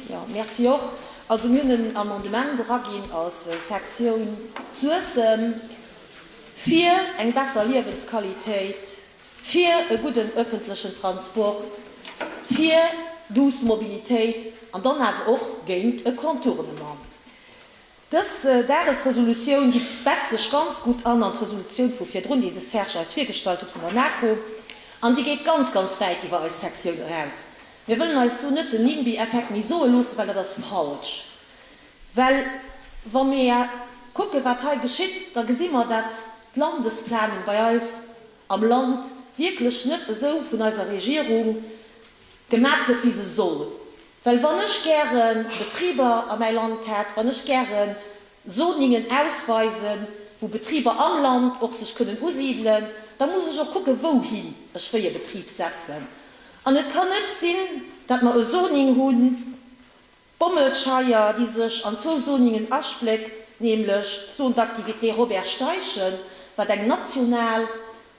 Jo, merci och. Also mir hunn en Amendement eraginn als Sektioun Suessem, fir eng besser Liewensqualitéit, fir e gudden öffentlechen Transport, fir douce Mobilitéit an dann awer och géint e Contournement. Dës Dagesresolutioun, déi bett sech ganz gutt an an d'Resolutioun vu virdrun, déi de Serge eis virgestallt huet vun der NAKO. An déi geet ganz, ganz wäit iwwer eis Sektioun eraus. Mir wëllen eis do net den Nimby-Effekt méi soe loossen, well dat ass falsch. Well wa mir kucken, wat hei geschitt, da gesi mer, dat d'Landesplanung bei eis am Land wierklech net esou vun eiser Regierung gemat gëtt wéi se soll, well wann ech gäre Betriber a mäi Land hätt, wann ech gäre Zoningen ausweisen, wou Betriber am Land och sech kënnen usidelen, da muss ech och kucke wouhin ech wéi e Betrib setzen. An et kann net sinn, datt mer e Zoning hunn, Bommelscheier, déi sech an zwou Zoningen aspléckt, nämlech d'Zone d'activité Robert Steichen, wat eng national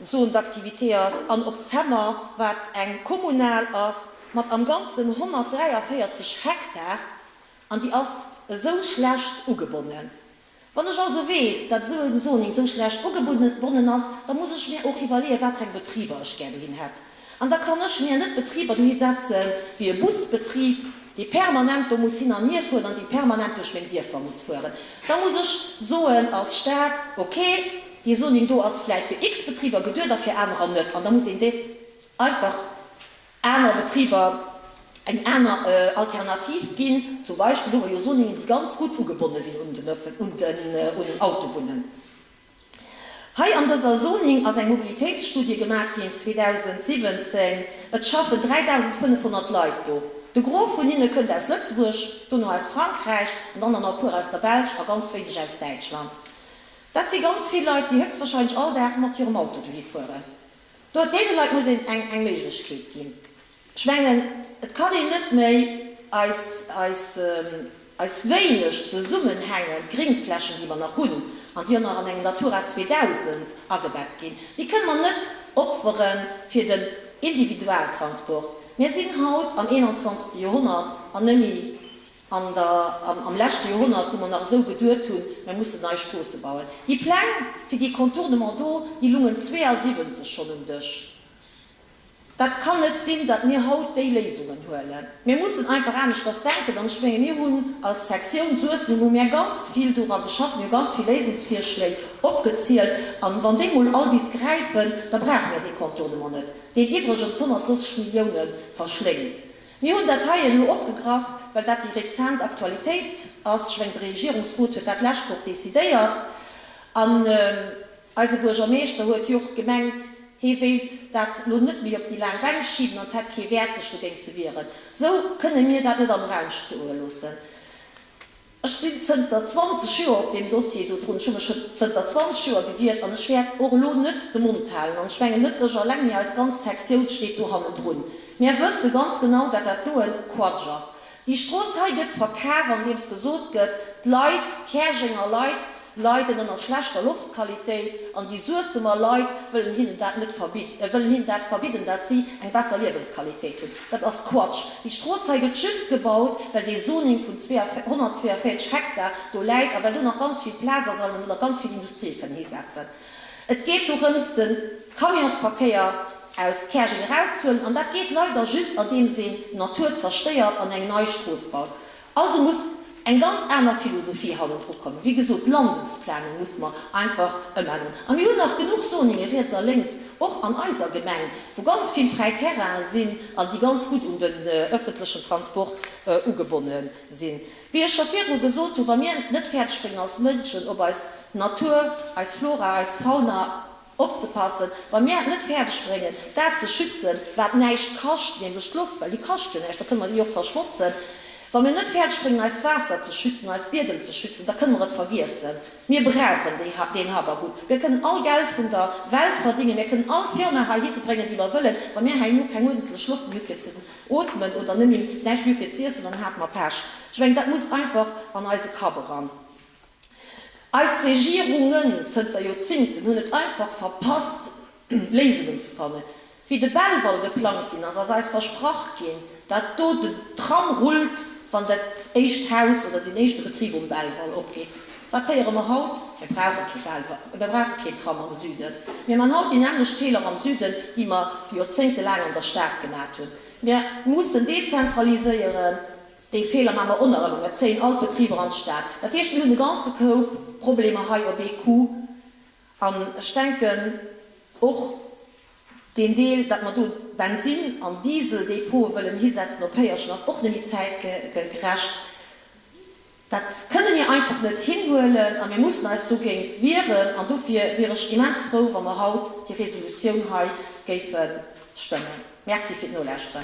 Zone d'activité ass, an Op Zemmer, wat eng kommunal ass, mat am Ganzen 143 Hektar, an déi ass esou schlecht ugebonnen. Wann ech also weess, dat esou en Zoning esou schlecht ugebonnen ass, da muss ech mir och iwwerleeën, watereng Betriber ech gär dohin hätt. An da kann ech mir net Betriber dohi setzen, wéi e Busbetrib, dee permanent do muss hin an hier fueren an dee permanent duerch meng Dierfer muss fueren. Da muss ech soen als Stat, ok, dee Zoning do ass vläit fir X-Betriber geduet a fir anerer net. An da muss een dee einfach aner Betriber eng aner Alternativ ginn. Zum Beispill hu mer jo Soningen, déi ganz gutt ugebonne sinn un den Autobunnen. Hei an dëser Soning ass eng Mobilitéitsstudie gemaach ginn 2017. Et schaffen 3.500 Leit do. De Gros vun hinne kënnt aus Lëtzebuerg, dono aus Frankräich an dann nach e puer aus der Belsch a ganz wéineg aus Däitschland. Dat si ganz vill Leit, déi héchstwahrscheinlech all Dag mat hirem Auto dohi fueren. Do, deene Leit muss een eng Méiglechkeet ginn. Ech mengen, et kann een net méi eis, eis, eis wéineg zesummenhängend Gringflächen, déi mer nach hunn an déi och nach an engem Natura 2000 agebett ginn, déi kënne mer net opfere fir den Individualtransport. Mir sinn haut am 21. Joerhonnert an nëmme An der, am leschte Joerhonnert, wou mer nach esou geduet hunn, mir mussen nei Stroosse bauen, déi Pläng fir déi Contournement do, déi lungen 72 schonn um Dësch. Dat kann net sinn, datt mir haut déi Léisungen huelen. Mir mussen einfach aneschters denken. An ech menge mir hunn als Sektioun Suessem, hu mir ganz vill dora geschafft, mir hu ganz vill Léisungsvirschléi opgezielt. An wann déi mol all bis gräifen, da brauche mir dee Contournement net, deen iwwregens 130 Milliounen verschléngt. Mir hunn dat hei elo opgegraff, well dat déi rezent Aktualitéit ass. Ech mengen, de Regierungsrot huet dat d'lescht Woch decidéiert. An eise Buergermeeschter huet jo och gemengt, hee wéilt dat elo net méi op déi laang Bänk schiben an et hätt kee Wäert, sech dogéint ze wieren. Esou kënne mir dat net am Raum stoe loossen. Ech sinn zënter 20 Joer op deem Dossier do drun. Ech hu mech scho zënter 20 Joer gewiert an ech wäert och elo net de Mond halen. An ech mengen net ech alleng, mee eis ganz Sektioun steet do hannendrun. Mär wësse ganz genau, datt dat do e Quatsch ass. Déi Strooss hei gëtt verkaf, andeems gesot gëtt, d'Leit, d'Käerjenger Leit, leiden ënner schlechter Loftqualitéit an déi Suessemer Leit wëllen hinnen dat net verbidden, wëllen hinnen dat verbidden, dat si eng besser Liewensqualitéit hunn. Dat ass Quatsch. Déi Strooss hei gëtt just gebaut, well dee Zoning vun 142 Hektar do läit a well do nach ganz vill Plaz ass a well mer do nach ganz vill Industrië kënnen hisetzen. Et geet dorëms, de Camionsverkéier aus Käerjeng erauszehuelen an dat geet leider just andeems een d'Natur zerstéiert an eng nei Strooss baut. Also muss eng ganz aner Philosophie hannendru kommen. Wéi gesot, d'Landesplanung muss mer einfach ëmänneren. A mir hunn nach genuch Zoninge riets a lénks, och an eiser Gemeng, wou ganz vill fräi Terrainen sinn an déi ganz gutt un den öffentlechen Transport ugebonne sinn. Wéi ech scho virdru gesot hunn, wa mir net fäerdeg bréngen als Mënschen op eis Natur, eis Flora, eis Fauna, Opzepassen, wa mir et net fäerdeg bréngen, dat ze schützen, wat näischt kascht, nämlech d'Loft, well déi kascht jo näischt, da kënne mer déi och verschmotzen, wa mir et net fäerdeg bréngen, eist Waasser ze schützen, eis Biedem ze schützen, da kënne mer et vergiessen. Mir brauchen déi, deen Habacuc. Mir kënnen all Geld vun der Welt verdingen, mir kënnen all Firma heihitte bréngen, déi mer wëllen, wa mir herno keng uerdentlech Loft méi hu fir ze ootmen oder net méi, näischt méi hu fir ze iessen, dann hat mer Pech. Ech mengen, dat muss einfach an eise Kapp eran. Eis Regierungen zënter Joerzingten hunn et einfach verpasst, Léisungen ze fannen. Wéi de Belval geplangt ginn ass, ass eis versprach ginn, dat do den Tram rullt, wann dat éischt Haus oder deen éischte Betrib um Belval opgeet. Wat héiere mer haut? Mir brauche kee Belval, mir brauche keen Tram am Süden. Mir man haut déi nämmlecht Feeler am Süden, déi mer joerzéngtelaang an der Stad gemat hunn. Mir mussen dezentraliséieren. Déi Feeler maa mer o nach ëmmer. Et zéien all d'Betriber an d'Stad. Dat heescht, mir hunn e ganze Koup Problemer hei op ee Coup. An ech denken, och deen Deel, datt mer do Bensin an Diesel-Depote wëllen hisetzen op Péierchen, ass och net méi zäitgerecht. Dat kënne mir einfach net hinhuelen a mir mussen eis dogéint wieren. An dofir wier ech immens frou, wa mer haut déi Resolutioun hei géife stëmmen. Merci fir d'Nolauschteren.